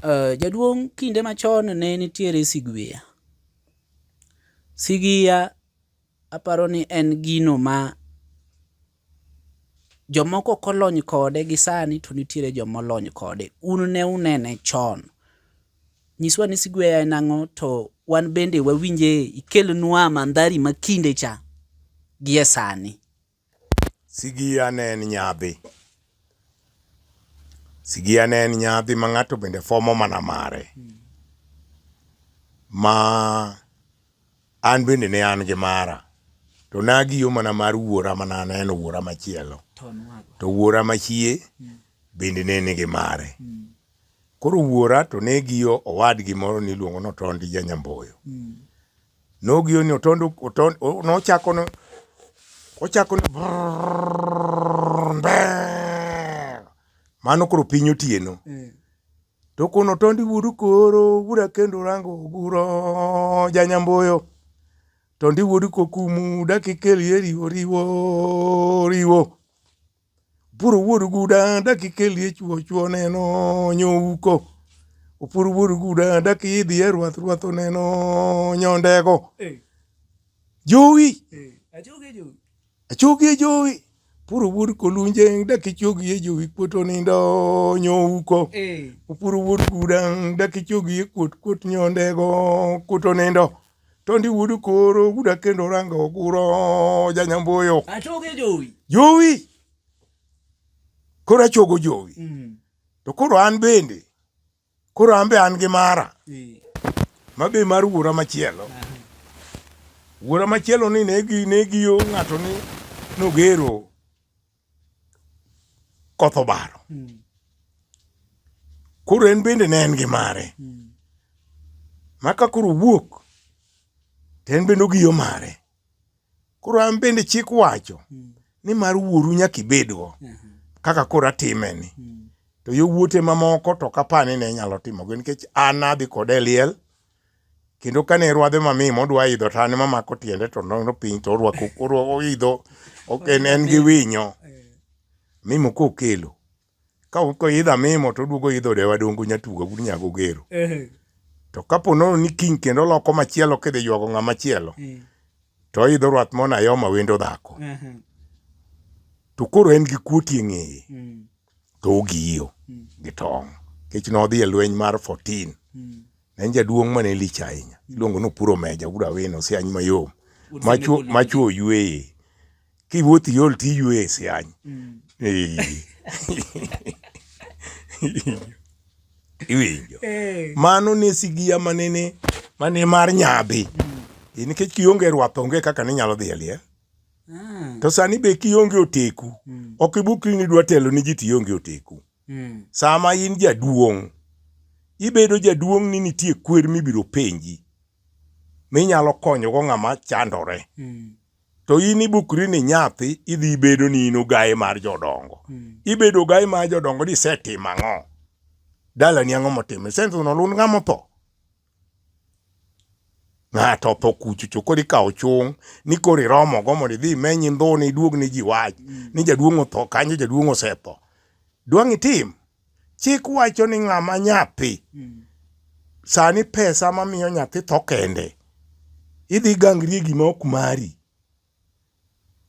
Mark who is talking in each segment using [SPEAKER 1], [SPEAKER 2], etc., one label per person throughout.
[SPEAKER 1] Uh, jaduong' kinde machon ne nitiere sigwiya. Sigiya aparo ni en gino ma jomoko ok olony kode gi sani to nitiere joma olony kode. Un ne unene chon. Nyiswa ni sigweya en ang'o to wan bende wawinje ikelnwa mandhari ma kinde cha gi e sani.
[SPEAKER 2] Sigiya ne en nyadhi. Sigiya ne en nyadhi ma ng'ato bende fuomo mana mare. Ma an bende ne an gi mara. To ne agiyo mana mar wuora ma ne aneno wuora machielo. To wuora machie bende ne nigi mare. Koro wuora to ne giyo owadgi moro niluongo ni Otondi ja Nyamboyo. Nogiyo ni otondo otondo nochako no ochako ni mano koro piny otieno. Mm. To kono tondi wudu koro wuda kendo rango guro janyamboyo. Tondi wudu kokumu dakikel yeri oriwo oriwo. Opuro wuod guda dakika e liech wuochwo neno nyouko. Opuro wuod guda dakika idhi e ruath ruath oneno nyondego. Jowi. Achogi e jowi. Puro wuod kolunje dakichogi e jowi kuot onindo nyouko. Opuro wuod guda dakichogi e kuot kuot nyondego kuot onindo. to ndi wuod koro guda kendo ranga oguro janyamboyo achoge jowi
[SPEAKER 1] jowi
[SPEAKER 2] koro achogo jowi mm. to koro an bende koro an be an gi mara e. ma be mar wuora machielo wuora machielo ni ne gi ne giyo ng'ato ni nogero koth obaro hmm. koro en bende ne en gi mare hmm. ma ka koro wuok to en bende ogiyo mare koro an bende chik wacho hmm. ni mar wuoru nyaka ibedgo kaka koro atime ni to yo wuote mamoko to kapani ne nyalo timogo nikech an adhi kode liel kendo kane rwadhe mamii modwa idho tane mamako tiende to nono piny to orwako orwako idho ok en en gi winyo mimo kokelo ka ko idha mimo to duogo idho de wadongo nyatuga gur nyago gero to kapo nono ni kiny kendo loko machielo kidhi ywago ng'ama chielo to idho rwath mona yoma wendo dhako to koro en gi kuoti e ng'eye to ogiyo mm. gi tong' nikech nodhi e lweny mar 14 mm. ne en jaduong' mane lich ahinya mm. iluongo ni Opuro Meja wuod Awino Siany mayom machuo oyueye kiwuoth iol to iyueye e Siany mm. iwinjo eh. mano ne sigiya manene mane mar nyadhi mm. nikech kionge rwath onge kaka ninyalo dhi e liel Mm. To sani be kionge oteku, mm. ok ibukri ni dwa telo ni ji to ionge oteku. Mm. Sama in jaduong', ibedo jaduong' ni nitie kwer mibiro penji minyalo konyogo ng'ama chandore. Mm. To in ibukri ni nyathi idhi bedo ni in ogaye mar jodongo. Mm. Ibedo ogaye mar jodongo ni isetimo ang'o? Dalani ang'o motimo? Isentono lund ng'ama otho? ng'ato otho kuchucho koro ikawo chung' ni koro iromogo mondo idhi imeny indhone iduog ni ji wach mm. ni jaduong' otho kanyo jaduong' osetho dwang' itim chik wacho ni ng'ama nyathi mm. sani pesa mamiyo nyathi tho kende idhi gangri e gima ok mari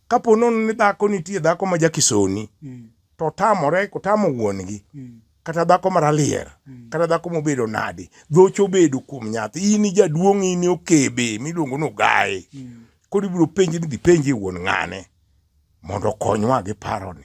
[SPEAKER 2] Kapo nono ni dhako nitie dhako ma jakisoni mm. to tamore kotamo wuongi mm. kata dhako maralier mm. kata dhako mobedo nadi dhocho bedo kuom nyathi in jaduong' in okebe miluongo ni ogaye mm. koro ibiro penji ni dhi penji wuon ng'ane mondo okonywa gi paroni